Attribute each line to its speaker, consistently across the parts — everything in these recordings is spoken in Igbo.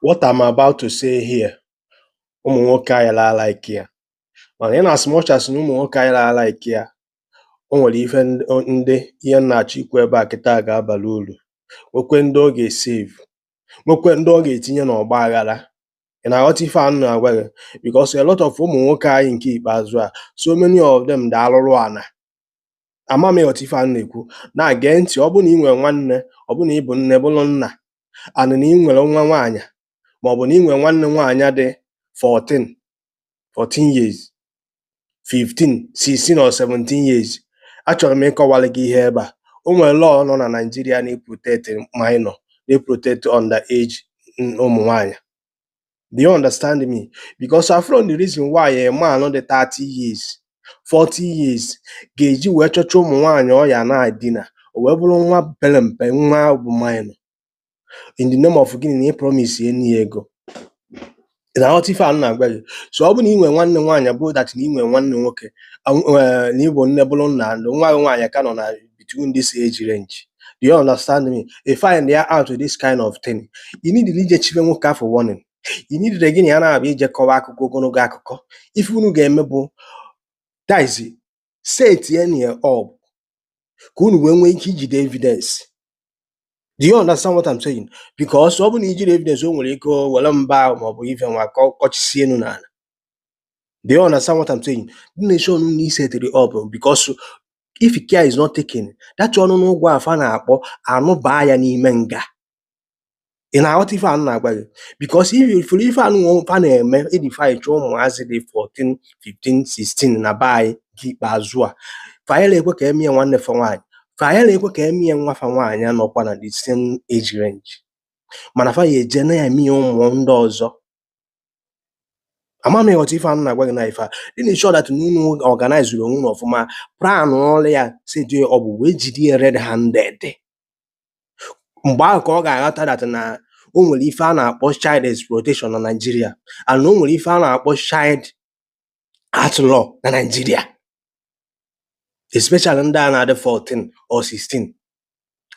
Speaker 1: what I'm about to say here ụmụ nwoke anyị laa like ya mana in as much as na ụmụ nwoke anyị laa like ya o nwere ife ndị o- ndị ihe m na-achọ ikwu ebe a kịta ga-abara uru nwekwe ndị ọ ga-esave nwekwe ndị ọ ga-etinye n'ọgba aghara ị na-aghọta ife a m na-agwa gị because a lot of ụmụ nwoke anyị nke ikpeazụ a so many of them dị alụrụ ana ama m ị ghọta ife a m na-ekwu na-ege ntị ọ bụ na ị nwere nwanne ọ bụ na ị bụ nne bụrụ nna and na ị nwere nwa nwaanyị ma ọ bụ na ị nwere nwanne nwaanyị dị 14 14 years 15 16 or 17 years achọrọ m ịkọwara gị ihe ebe a o nwere law nọ na Naịjirịa na-eprotect minor na-eprotect under age ụmụ nwaanyị Do you understand me? Because afụrọ m the reason why a man dị 30 years, 40 years ga-eji wee chọchaa ụmụ nwaanyị ọ ya na-edina o wee bụrụ nwa pere mpe nwa bụ minor in the name of gịnị na ị promise ya inye ya ego Ị na-aghọta ife a m na-agwa gị so ọ bụ na ị nwere nwanne nwaanyị bụ that na ị nwere nwanne nwoke anw- eh, na ị bụ nne bụrụ nna and nwa gị nwaanyị ka nọ na between this age range. Do you understand me? Ị finda out this kind of thing, ị needirọ ije chile nwoke afụ warning. Ị needirọ gị na ya na-abịa ije kọwa akụkọ ogologo akụkọ. Ife unu ga-eme bụ that's setienu ya up ka unu wee nwee ike ijide evidence. Do you understand what I'm saying? Because ọ bụ na i jirọ evidence o nwere ike o were mba ma ọ bụ ife nwa ka ọ kọchisie unu n'ala. Do you understand what I'm saying? Dị na sure na unu setiri ya up because if care is not taken, that ọnụnụ ụgwọ afụ a na-akpọ anụbaa ya n'ime nga. Ị na-aghọta ife a m na-agwa gị? Because ị fụrụ ife a nwa fa na-eme eje chụọ ụmụazị dị 14, 15, 16 na be anyị nke ikpeazụ a. Fayela ekwe ka e mie nwanne fa nwaanyị. Fayela ekwe ka e mie nwa fa nwaanyị nọkwa na the same age range. Mana fa ya eje na-eme ya ụmụ ndị ọzọ. ama m ị ghọta ife a m na-agwa gị na ife a dị na sure that na unu organizeru onwe unu ọfụma planụọrụ ya setie ya up wee jide ya red handed mgbe ahụ ka ọ ga-aghọta that na o nwere ife a na-akpọ child exploitation na Naịjirịa and na o nwere ife a na-akpọ child act law na Nigeria especially ndị a na-adị 14 or 16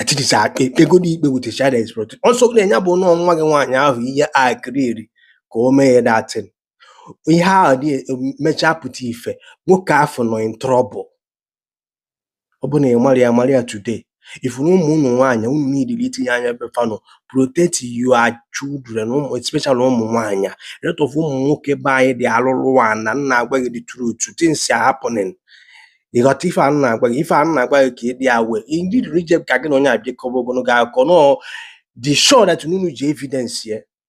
Speaker 1: at least e kpegodi ikpe with a child exploitation ọsọ na ya bụ na ọọ nwa gị nwaanyị ahụ ihe agreeri ka o mee ya that thing ihe ahụ dị mechaa pụta ife nwoke afụ nọ in trouble ọ bụ na ị mara ya mara ya today ifuru ụmụ ụmụ nwaanyị unu needili itinye anya ebe fa nọ protect your children ụmụ especially ụmụ nwaanyị rate of ụmụ nwoke be anyị dị alụlụ ana m na-agwa gị the truth things are happening ị ghọta ife m na-agwa gị ife m na-agwa gị ka ị dị aware ndị rije ka gị na onye a bịa kọba ogologo akụkọ no be sure that unu ji evidence ya